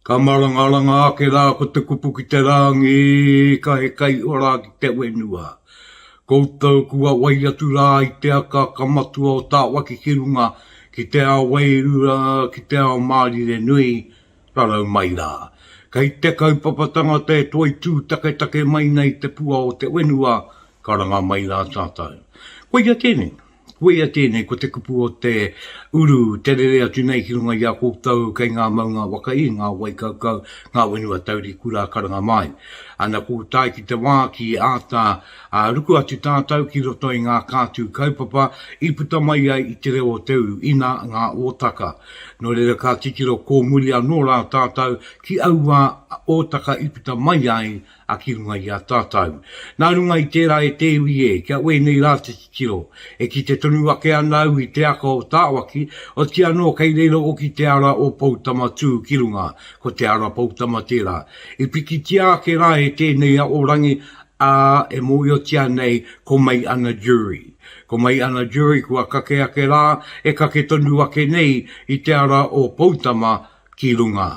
Ka marangaranga ake rā ko te kupu ki te rāngi, ka he kai ora ki te whenua. Koutou kua wai atu rā i te akaaka matua o Tāwaki ki runga, ki te ao wairua, ki te ao mārire nui, rarau mai rā. Kei te kaupapa tangata e toitū taketake mai nei te pua o te whenua, ka ranga mai rā tātou. Koia tēnei. Koia tēnei, ko te kupu o te uru, te rere atu nei ki runga i a koutou kei ngā maunga waka i, ngā wai kaukau, ngā whenua taurikura, karanga māi. Ana kō tae ki te wā ki āta ruku atu tātou ki roto i ngā kātū kaupapa i puta mai ai i te reo o te uru, inā ngā ōtaka. Nō reira ka titiro kōmuri anō rā tātou ki aua ōtaka i puta mai ai A ki runga i a tātau. Nā runga i tērā e te iwi e, kia wēnei rā te titiro. E kite tonu ake ana au i te aka o Tāwaki, oti anō kei reira oki te ara o Poutama tū ki runga, ko Te Ara Poutama tērā. I pikitia ake rā e tēnei a Orangi, ā, e mōhiotia nei ko Mai Ana Jury. Ko Mai Ana Jury kua kake ake rā, e kake tonu ake nei i te ara o Poutama, ki runga.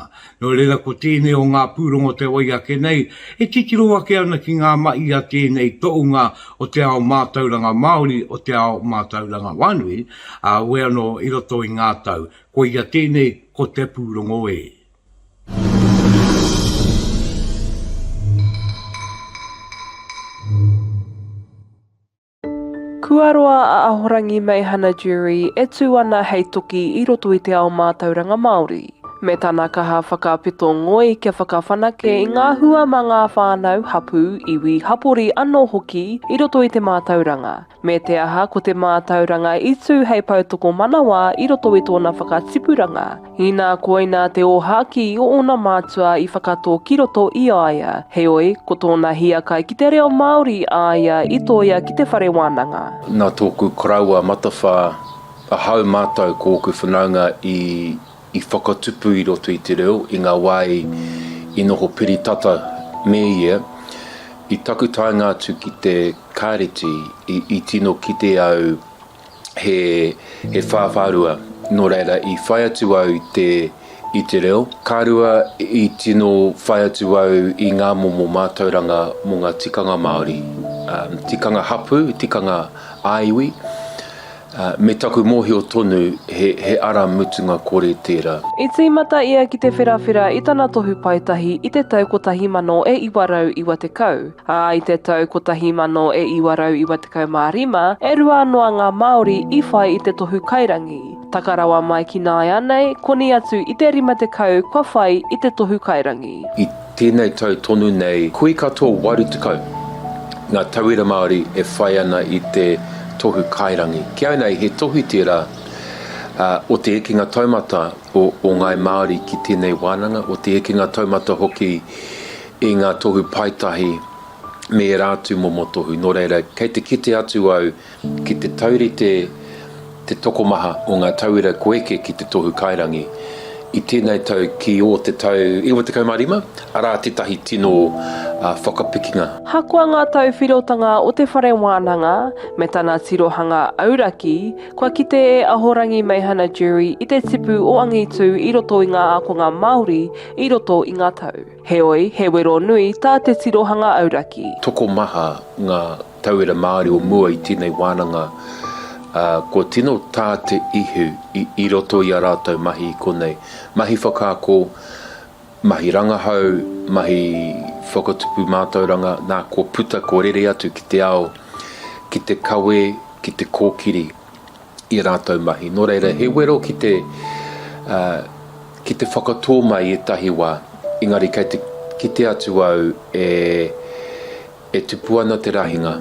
Nō reira ko tēnei o ngā pūrongo te wai ake nei e titiro ake ana ki ngā mahi a tēnei toʻunga o te ao mātauranga Māori, o te ao mātauranga whānui, ā, we anō i roto i ngā tau. Koia tēnei ko te pūrongo e. Kua roa a Ahorangi Meihana Durie e tū ana hei toki i roto i te ao mātauranga Māori, me tana kaha whakapito ngoi kia whakawhanake i ngā hua mā ngā whānau, hapū, iwi, hapori anō hoki i roto i te mātauranga, me te aha ko te mātauranga i tū hei poutokomanawa i roto i tōna whakatipuranga Inā koinā te ōhākī o ōna mātua i whakatō ki roto i a ia. Heoi, ko tōna hiakai ki te reo Māori a ia i tōia ki te whare wānanga. Nā tōku koroua matawhā, ahau mātou ko ōku whanaunga i whakatupu i roto i te reo i ngā wā i noho piri tata me ia. I taku taenga atu ki te Kāreti, i tino kite au, he whāwhārua, nō reira i whai atu au i te reo. Ka rua, i tino whai atu au i ngā momo mātauranga mō ngā tikanga Māori, tikanga hapū, tikanga ā-iwi, me taku mōhio tonu he ara mutunga kore tērā. I tīmata ia ki Te Wherawhera i tana tohu paetahi i te tau 1990. Ā, i te tau 1995, e rua noa ngā Māori i whai i te tohu kairangi. Taka rawa mai ki nāianei, koni atu i te 50 kua whai i te tohu kairangi. I tēnei tau tonu nei, hui katoa 80 ngā tauira Māori e whai ana i te tohu kairangi. Ki au nei, he tohu tērā o te hekenga taumata o Ngāi Māori ki tēnei wānanga, o te hekenga taumata hoki i ngā tohu paetahi me ērā atu momo tohu, nō reira, kei te kite atu au ki te taurite te tokomaha o ngā tauira kua eke ki te tohu kairangi i tēnei tau ki ō te tau 95, arā tētahi tino whakapikinga. Ahakoa ngā tauwhirotanga o te whare wānanga me tana tirohanga auraki, kua kite e Ahorangi Meihana Durie i te tipu o angitū i roto i ngā ākonga Māori i roto i ngā tau. Heoi, he wero nui tā te tirohanga auraki. Tokomaha ngā tauira Māori o mua i tēnei wānanga, ā, kua tino tā te ihu i roto i ā rātou mahi i konei, mahi whakaako, mahi rangahau, mahi whakatupu mātauranga, nā, kua puta, kua rere atu ki te ao, ki te kawe, ki te kōkiri, i a rātou mahi. Nō reira, he wero ki te, ki te whakatō mai ētahi wā, engari kei te kite atu au e, e tupu ana te rahinga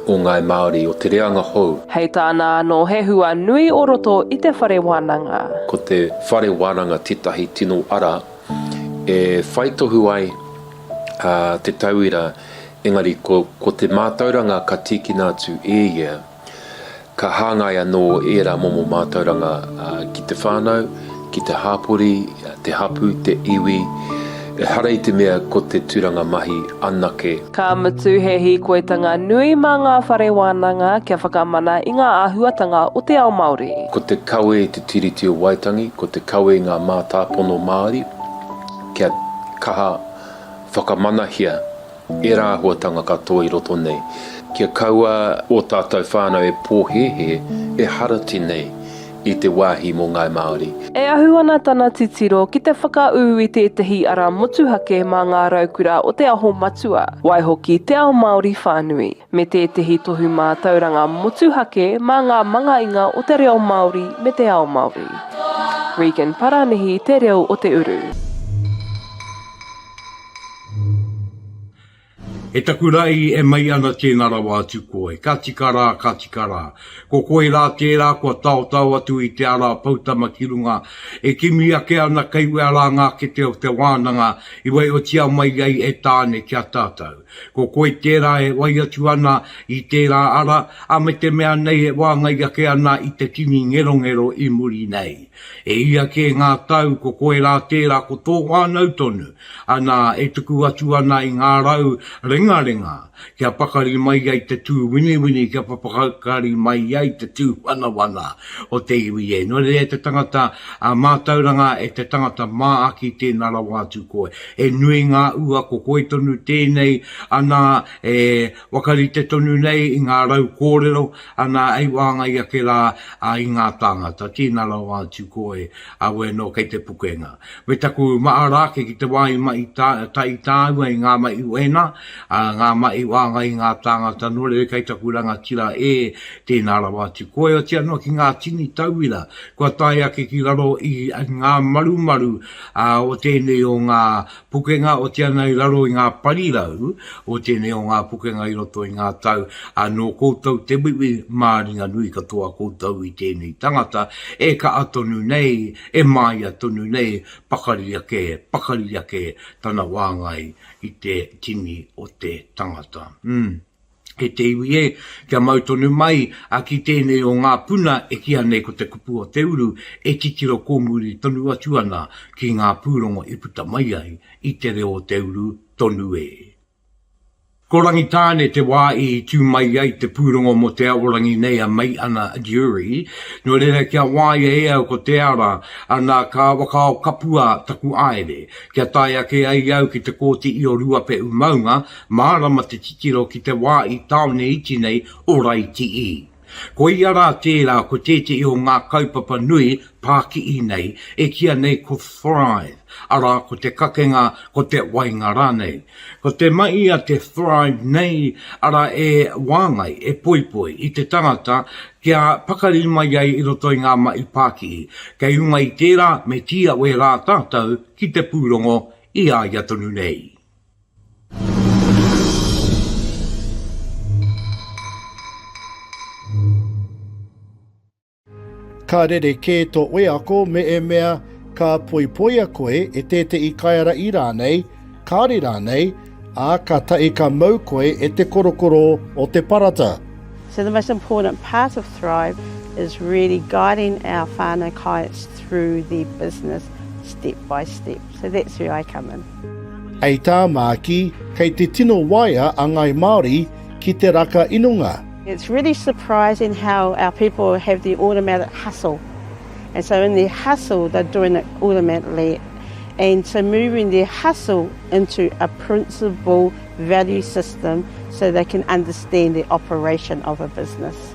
o ngāi Māori, o te reanga hou. Hei tāna anō he hua nui o roto i te whare wānanga. Ko te whare wānanga tētahi tino ara e whai tohu ai te tauira, engari ko, ko te mātauranga ka tīkina atu e ia. Ka hāngai anō ērā momo mātauranga ki te whānau, ki te hāpori, te hapū, te iwi, ehara i te mea ko te tūranga mahi anake. Ka mutu he hīkoitanga nui mā ngā whare wānanga kia whakamana i ngā āhuatanga o te ao Māori. Ko te kawe i te Tiriti o Waitangi, ko te kawe i ngā mātāpono Māori kia kaha whakamanahia. Ērā āhuatanga katoa i roto nei, kia kaua ō tātou whānau e pōhēhē, e harati nei i te wāhi mō Ngāi Māori. E ahu ana tana titiro ki te whakaū i tētehi ara motuhake mā ngā raukura o Te Aho Matua, waihoki te ao Māori whānui. me tētehi tohu mātauranga motuhake mā ngā mangainga o te reo Māori me te ao Māori. Regan Paranihi Te Reo o te Uru. E taku ra i e mai ana tena rawa atu koe, ka tika ra, ka tika ra. Ko koe ra tera kua taotao atu i te ara poutama ki runga, e kimi ake ana kei wea ra nga kete o te wananga i waiotia mai ai e Tane ki a tatou. Ko koe tērā e whai atu ana i tērā ara, ā, me te mea nei e wāngai ake ana i te tini ngerongero i muri nei. E ia kē ngā tau ko koe rā tērā ko tō whānau tonu, anā, e tuku atu ana i ngā rau rengarenga kia pakari mai ai te tū winiwini, kia pakari mai ai te tū wanawana o te iwi e. Nō reira e te tangata mātauranga, e te tangata māaki tēnā rawa atu koe. He nui ngā ua ko koi tonu tēnei ana e whakarite tonu nei i ngā rau kōrero ana hei wāngai ake rā i ngā tāngata. Tēnā rawa atu koe, au anō kei te pukenga. Me taku maha rā ake ki te wā i mahi tahi tāua i ngā mahi wehena, ngā mahi wāngai i ngā tāngata nō reira kei taku rangatira ē, tēnā rawa atu koe, otirā noa ki ngā tini tauira kua tae ake ki raro i ngā marumaru ā, o tēnei o ngā pukenga o te ana i raro i ngā parirau o tēnei o ngā pukenga i roto i ngā tau, ā, nō koutou te wiwi māringanui katoa koutou i tēnei tangata, e kaha tonu nei, e māia tonu nei, pakari ake, pakari ake tana wāngai i te tini o te tangata. Umm. E te iwi e, kia mau tonu mai a ki tēnei o ngā puna e kīa nei ko te kupu o te uru e titiro kōmuri tonu atu ana ki ngā pūrongo i puta mai ai i te reo o te uru tonu e. Ko Rangitāne te wā i tū mai ai te pūrongo mō Te Aorangi nei a Meiana Durie, nō reira kia wāia e au ko te ara, anā ka wakaao kapua taku aere, kia tae ake ai au ki te Kōti i o Ruapehu maunga, Mārama te titiro ki te wā i tāone iti nei o Raitii. Koia rā tērā ko tētehi o ngā kaupapa nui pākihi nei e kīa nei ko Thrive, arā ko te kakenga, ko te wainga rānei. Ko te mahi a te Thrive nei, arā e wāngai, e poipoi i te tangata kia pakari mai ai i roto i ngā mahi pākihi. Kei runga i tērā me tīawe rā tātou ki te pūrongo i a ia tonu nei. Ka rerekē tō wheako mēemea ka poipoia koe e tētehi kaiārahi rānei, kāri rānei, ā, ka tahi ka mau koe e te korokoro o te parata. So the most important part of Thrive is really guiding our whānau kites through their business step by step. So that's where I come in. Hei tā Māki, kei te tino waea a Ngāi Māori ki te raka inonga. It's really surprising how our people have the automatic hustle. And so in their hustle, they're doing it automatically. And so moving their hustle into a principle value system so they can understand the operation of a business.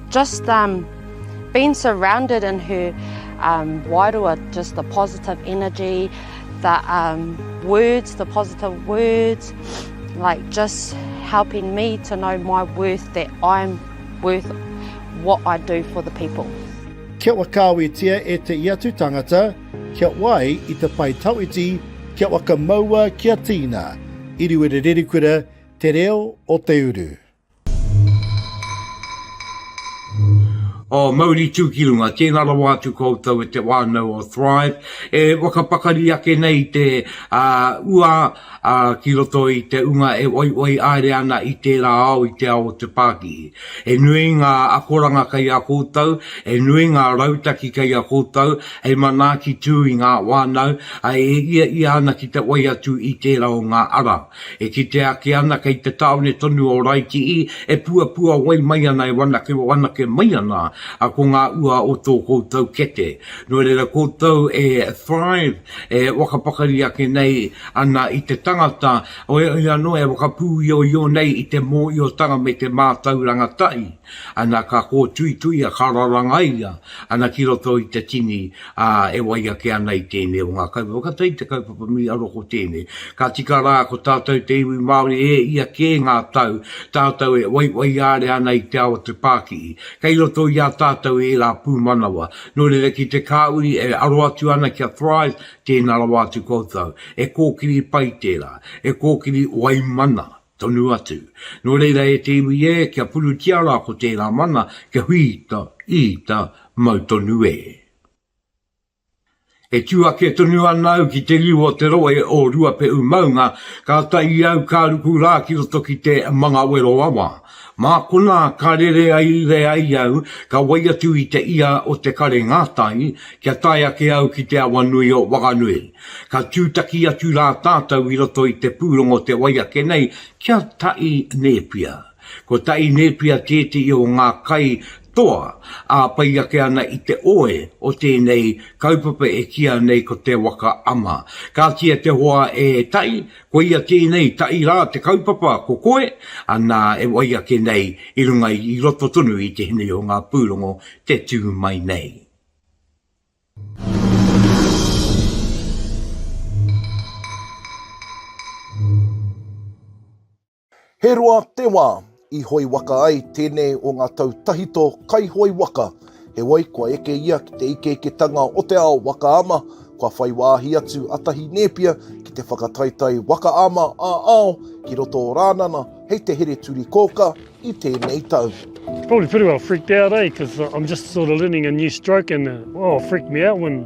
Just um being surrounded in her um wairua just the positive energy the um words the positive words like just helping me to know my worth that I'm worth what I do for the people. Kia whakaawetia e te i atu tangata, kia wai i te pae tawhiti, kia whakamaua kia tīna. Iriwere Rerikura, Te Reo o te Uru. O Mauri Tūkirunga, tēnā rawa atu koutou e te whānau o Thrive e whakapakari ake nei te ua ki roto i te ūnga e whaiwhai haere ana i tērā ao i te ao o te pākihi. He nui ngā akoranga kei a koutou, he nui ngā rautaki kei a koutou hei manaaki tū i ngā whānau e ia ia ana ki te whai atu i tērā o ngā ara. E kitea ake ana kei te tāone tonu o Raitii e puapua wai mai ana e wanake wanake mai ana a ko ngā ua o tō koutou kete. Nō reira koutou e thrive e whakapakari ake nei ana i te tangata oioi anō e whakapūioio nei i te mōiotanga me te mātauranga tahi. Ana ka kōtuituia, ka rarangaia ana ki roto i te tini, ā, e wai ake ana i tēnei o ngā kaupapa. Ka tae ki te kaupapa nui anō ko tēnei, ka tika rā ko tātou te iwi Māori e ia kē ngā tau tātou e waiwaiāre ana i te ao o te pākihi. Kei roto i a tātou ērā pūmanawa. Nō reira ki te kāuri e aro atu ana ki a Thrive, tēnā rawa atu koutou. He kōkiri pai tērā, he kōkiri waimana. Tonu atu. Nō reira e te iwi e, kia purutia rā ko tērā mana, kia whīta, īta, mau tonu e. E tū ake tonu ana au ki te riu o te rohe o Ruapehu maunga, kātahi au ka ruku rā ki roto ki te Mangawero awa, Mā konā ka rere ai iwe ai au, ka wai atu i te ia o te kare ngātahi, kia tae ake au ki te awa nui o Whanganui. Ka tūtaki atu rā tātou i roto i te pūrongo te wai ake nei ki a Taʻi Nēpia. Ko Taʻi Nēpia tētehi o ngā kai toa ā pai ake ana i te oe o tēnei kaupapa e kīa nei ko Te Waka Ama. Kāti e te hoa e Taʻi, Koia tēnei taʻi rā te kaupapa ko koe, anā e wai ake nei i runga i roto tonu i te hinu o ngā pūrongo te tū mai nei. He roa te wā i hoe waka ai tēnei o ngā tau tahito kai hoe waka, heoi kua eke ia ki te ikeiketanga o te ao waka ama, kua whai wāhi atu a Tahi Nēpia ki te whakataetae waka ama ā-ao ki roto o Rānana hei te here turi kōkā i tēnei tau. Probably pretty well freaked out, eh, cause I'm just sort of learning a new stroke and, oh, it freaked me out when.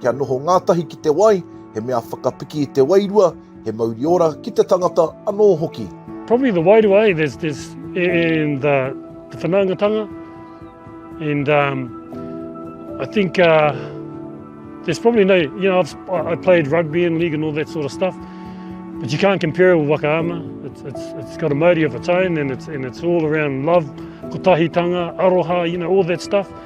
Kia noho ngātahi ki te wai, he mea whakapiki i te wairua, he mauri ora ki te tangata anō hoki. Probably the wairua eh, there's, there's, and the, the whanaungatanga, and um, I think uh, there's probably no, you know, I've, I played rugby and league and all that sort of stuff, but you can't compare it with Waka Ama. It's, it's, it's got a mauri of its own and it's, and it's all around love, kotahitanga, aroha, you know, all that stuff.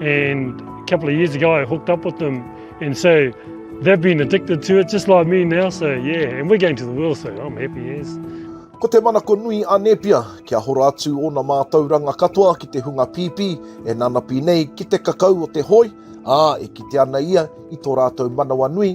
And a couple of years ago I hooked up with them and so they've been addicted to it just like me now so yeah and we're going to the world so I'm happy as. Ko te manako nui a Nepia kia hora atu ona mātauranga katoa ki te hunga pīpī e nanapi nei ki te kakau o te hoi, ā, e kite ana ia i tō rātou manawa nui,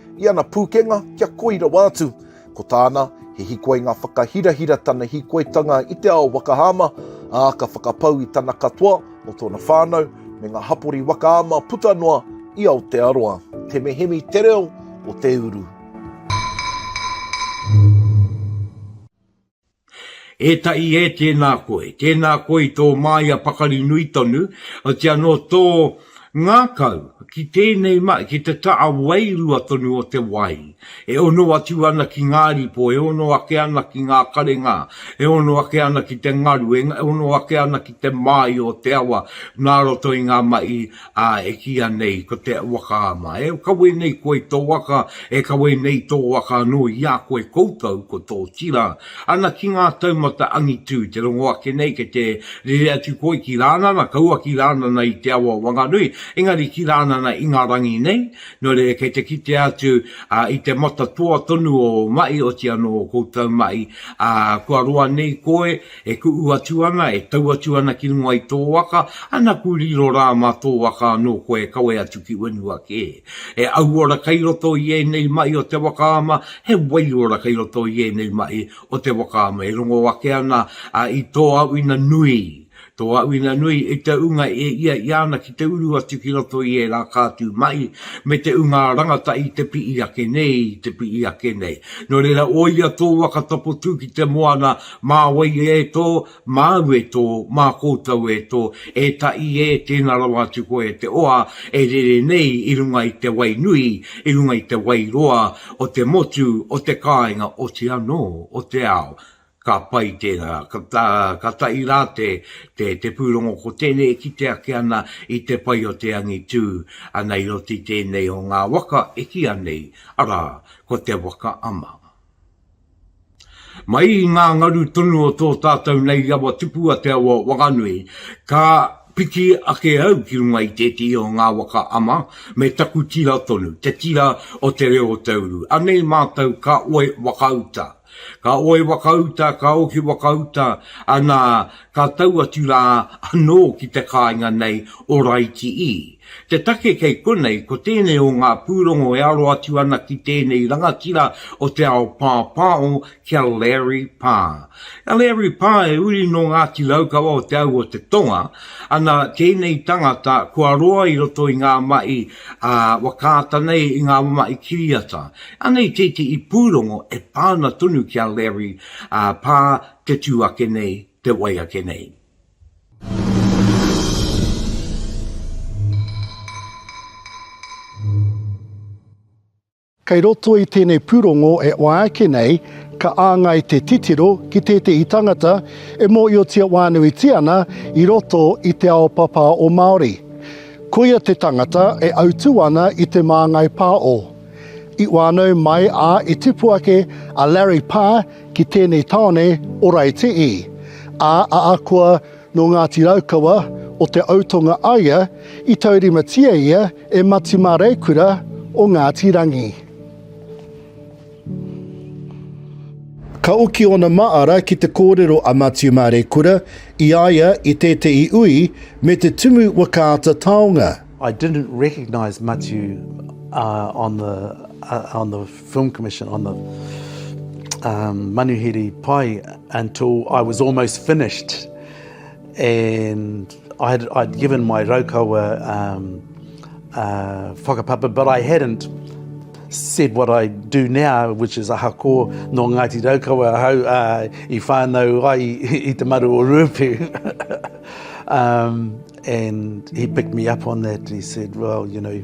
I ana pūkenga kia koi rawa atu. Ko tāna, he hikoinga whakahirahira tana hikoitanga i te ao waka ama, ā, ka whakapau i tana katoa mō tōna whānau me ngā hapori waka ama puta noa i Aotearoa. Te mehemi te reo o te uru. E taʻi e tēnā koe, tēnā koe i tō māia pakari nui tonu, otirā nō tō ngākau ki tēnei mai, ki te taʻa wairua tonu o te wai, e ono atu ana ki ngā ripo, e ono ake ana ki ngā karengā, e ono ake ana ki te ngaru, e ono ake ana ki te māio o te awa nā roto i ngā maʻi Ā, e kīia nei, ko te waka ama, e kawe nei koe i tō waka, e kawe nei tō waka anō i a koe koutou, ko tō tira. Ana ki ngā taumata angitu te rongo ake nei kei te rere atu koe ki Rānana, kaua ki Rānana i te awa Wanganui, engari ki Rānana i ngā rangi nei, nō reira kei te kitea atu i te matatoa tonu o mahi, oti anō o koutou mahi, ā, kua roa nei koe, E kuʻu atu ana, e tau atu ana ki runga i tō waka, anaku riro rā mā tō waka anō koe e kawe atu ki whenua kē. He auora kei roto i ēnei maʻi o te waka ama, he waiora kei roto i ēnei maʻi o te waka ama e rongo ake ana i tō auina nui, tō auina nui i te unga e iaia ana ki te uru atu ki roto i ērā kātū maʻi me te unga rangata i te piʻi ake nei, i te piʻi ake nei. Nō reira, ō ia tō waka topotū ki te moana, Mā wai e tō, māu e tō, mā koutou e tō, e Taʻi e, tēnā rawa atu koe e te oa e rere nei i runga i te wai nui, i runga i te wai roa o te motu, o te kāinga, oti anō, o te ao. Ka pai tērā. Ka taʻi rā te pūrongo ko tēnei e kite ake ana i te pai o te angitū ana i roto i tēnei o ngā waka e kīa nei, arā, ko te waka ama. Mai i ngā ngaru tonu o tō tātou nei rawa tupu a te awa whakanui, ka piki ake au ki runga i tētehi o ngā waka ama me taku tira tonu, te tira o te reo o te uru. Anei mātou ka oe wakauta. Ka oe wakauta, ka oki wakauta, anā, ka tau atu rā anō ki te kāinga nei o Raiti ii. Te take kei konei, ko tēnei o ngā pūrongo e aro atu ana ki tēnei rangatira o te ao pāpāo ki a Larry Parr. A Larry Parr e uri nō Ngāti Raukawa o te au o te tonga, ana tēnei tangata kua roa i roto i ngā mahi a wakaata nei i ngā mahi kiriata. Anei tētehi pūrongo e pā ana tonu ki a Larry Parr te tū ake nei, te wai ake nei. Kei roto i tēnei pūrongo e ōa ake nei, ka āngai te titiro ki tētehi tangata e mōhiotia wānuitia ana i roto i te ao papā o Māori. Koia te tangata e autū ana i te māngai pā o. I whānau mai ā i tipu ake a Larry Parr Ki tēnei tāone o Raetiī. A a Akua nō Ngāti Raukawa o Te Autonga aia i taurimatia ia e Mati Māreikura o Ngāti Rangi. Ka oki ōna māra ki te kōrero a Mati Māreikura i a ia i tētehi ui me te tumu wakaata taonga. I didn't recognise Matiu on the Film Commission on the um, Manuhiri Pai until I was almost finished. And I had, I'd given my Raukawa um, uh, whakapapa, but I hadn't said what I do now, which is aha ko no Ngāti Raukawa hau uh, i whānau ai i te maru o Ruapu. um, and he picked me up on that. He said, well, you know,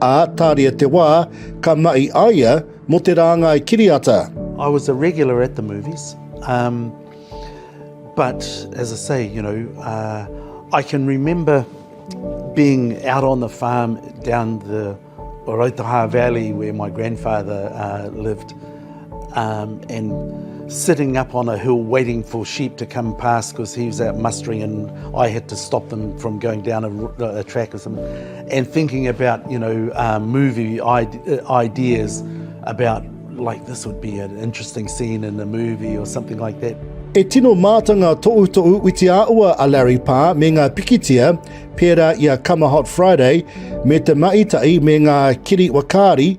Ā, tāria te wā, ka mahi a ia mō te rāngai kiriata. I was a regular at the movies um but as I say, you know, uh I can remember being out on the farm down the Rautaha valley where my grandfather uh lived. Um, and sitting up on a hill waiting for sheep to come past because he was out mustering and I had to stop them from going down a, a track or something. And thinking about, you know, uh, movie ide uh, ideas about like this would be an interesting scene in a movie or something like that. E tino mātanga toʻu toʻu witi āua a Larry Pā me ngā pikitia, pērā i a Come a Hot Friday, me te maʻitaʻi me ngā kiri wakāri,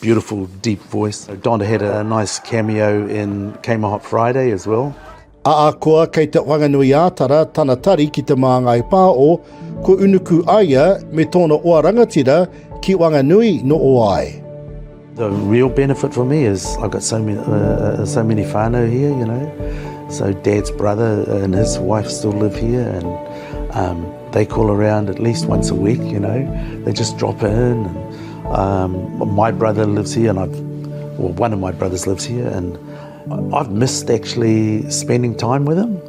Beautiful deep voice. So Don had a nice cameo in Kmart Hot Friday as well. Ahakoa kei Te Whanganui-ā-Tara tana tari ki Te Māngai Pāo, kua unuku aia me tōna oa rangatira ki Wanganui no Oae. The real benefit for me is I've got so many, uh, uh, so many whānau here, you know. So Dad's brother and his wife still live here and um, They call around at least once a week, you know, they just drop in. Um, my brother lives here, and I've, well, one of my brothers lives here, and I've missed actually spending time with him.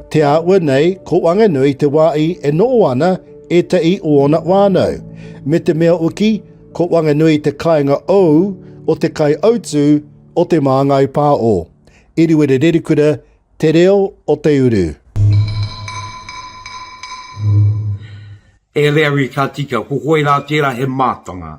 Te āua nei, ko Wanganui te wā i e nō ana e te i o ona wānau. Me te mea uki, ko Wanganui te kainga ou, o te kai autu, o te māngai pā o. Iriwere Rerikura, Te reo o te uru. Erieri ka tika, ko koe rā tērā he mātanga.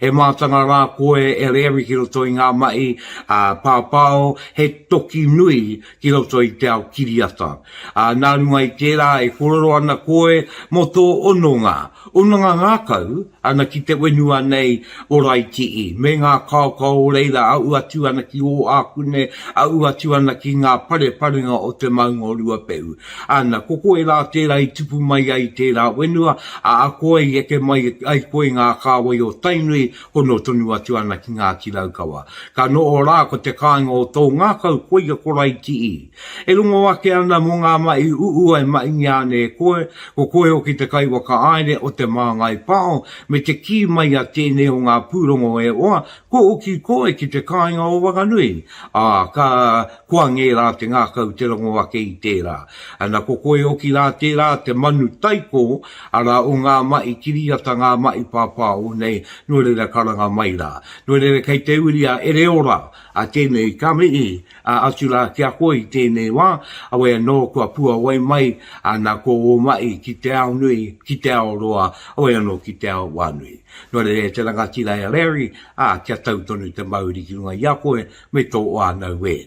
He mātanga rā koe Erieri ki roto i ngā mahi a Pāpāo, he toki nui ki roto i te ao kiriata. Ā, nā runga i tērā e kōrero ana koe mō tō ononga, ononga ngākau, Ana ki te wenua nei o Raitii, me nga kaokao o reira aʻu atu ana ki Oakune, aʻu atu ana ki nga pareparenga o te maunga o Ruapehu. Ana, ko koe ra tera i tupu mai ai i tera wenua, a akoa i eke mai ai koe i nga kāwai o Tainui, hono tonu atu ana ki Ngati Raukawa. Ka noho ra ko te kāinga o tou ngakau, koia ko Raitii. E rongo ake ana mō ngā mahi uʻu e maʻingia ana e koe, ko koe hoki te kaiwhakahaere o Te Māngai Pāho, me te kī mai a tēnei o ngā pūrongo e hoa, kua hoki koe ki te kāinga o Wanganui, ā, ka, kua ngērā te ngākau te rongo ake i tērā. Ana, ko koe hoki rā tērā te manu taiko, arā, o ngā mahi kiriata, ngā mahi pāpāho nei, nō reira karanga mai rā. Nō reira kei te uri a Ereora, a tēnei ka mihi, Atu rā ki a koe i tēnei wā, awe anō kua puawai mai ana ko ō mahi ki te ao nui, ki te ao roa, awe anō ki te ao wā nui. Nō reira e te rangatira, e Larry, ā, kia tau tonu te mauri ki runga i a koe me tō whānau e.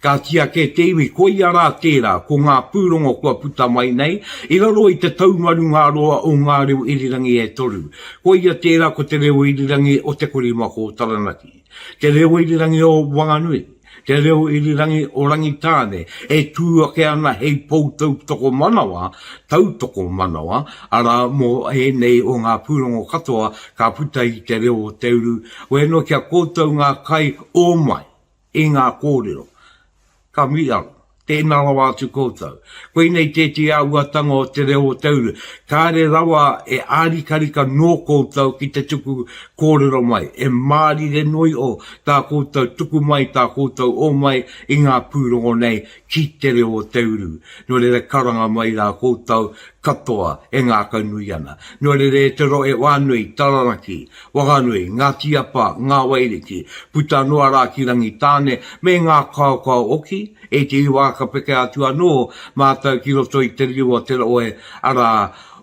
Kāti ake te iwi, koia rā tērā, ko ngā pūrongo kua puta mai nei, i raro i te taumaru ngā roa o ngā reo irirangi e toru. Koia tērā ko te reo irirangi o Te Korimako o Taranaki. Te reo irirangi o Wanganui, te reo irirangi o Rangitāne, e tū ake ana hei pou tautokomanawa, tautokomanawa, arā, mō ēnei o ngā pūrongo katoa ka puta i te reo o te uru, wēnō ki a koutou ngā kai ōmai i ngā kōrero. Ka mihi au. Tēnā rawa atu koutou. Koinei tētehi āhuatanga o te reo o te uru. Kāre rawa e ārikarika nō koutou ki te tuku kōrero mai. E mārire noa iho tā koutou tuku mai, tā koutou ō mai i ngā pūrongo nei ki te reo o te uru. Nō reira karanga mai rā koutou katoa e ngākaunui ana. Nō reira e te rohe whānui, taranaki, Whanganui, Ngāti Apa, Ngāwairiki, puta noa rā ki Rangitāne, me ngā kaokao oki, e te iwa ka peke atu anō mātou ki roto i te riu o Te Raohe, arā,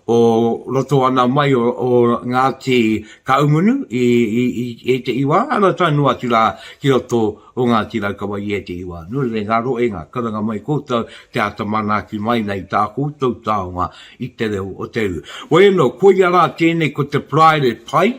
o roto ana mai o Ngāti Kahungunu i te iwa, arā tae noa atu rā ki roto o Ngāti Raukawa i ētehi wā. Nō reira, i ngā roenga, karanga mai koutou te āta manaaki mai nei i tā koutou taonga i te reo o te iwi. Waiano, koia rā tēnei ko te paraire pai,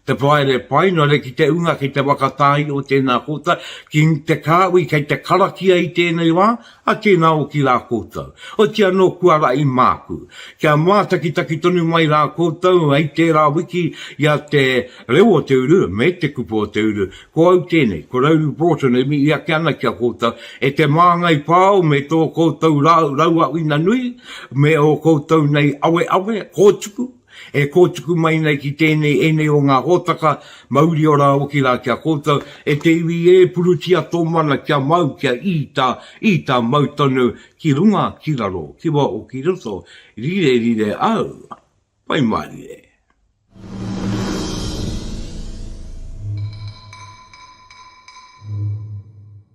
te paraire pai, nō reira ki te unga, ki te whakatāia o tēnā kōtai, ki te kāhui kei te karakia i tēnei wā, A tēnā oki rā koutou. Oti anō kua raʻi māku. Kia mātakitaki tonu mai rā koutou hei tērā wiki i a Te Reo o Te Uru me Te Kupu o Te Uru. Ko au tēnei, ko Rauru Broughton e mihi ake ana ki a koutou, e te māngai pāo me tō koutou rāu rauaʻuina nui, me ō koutou nei aweawe, kōtuku, E kōtuku mai nei ki tēnei ēnei o ngā hōtaka, mauri ora hoki rā ki a koutou, e te iwi ē, purutia tō mana kia mau, kia īta, īta mau tonu, ki runga, ki raro, ki waho, ki roto, rire, rire au, Pai Mārire.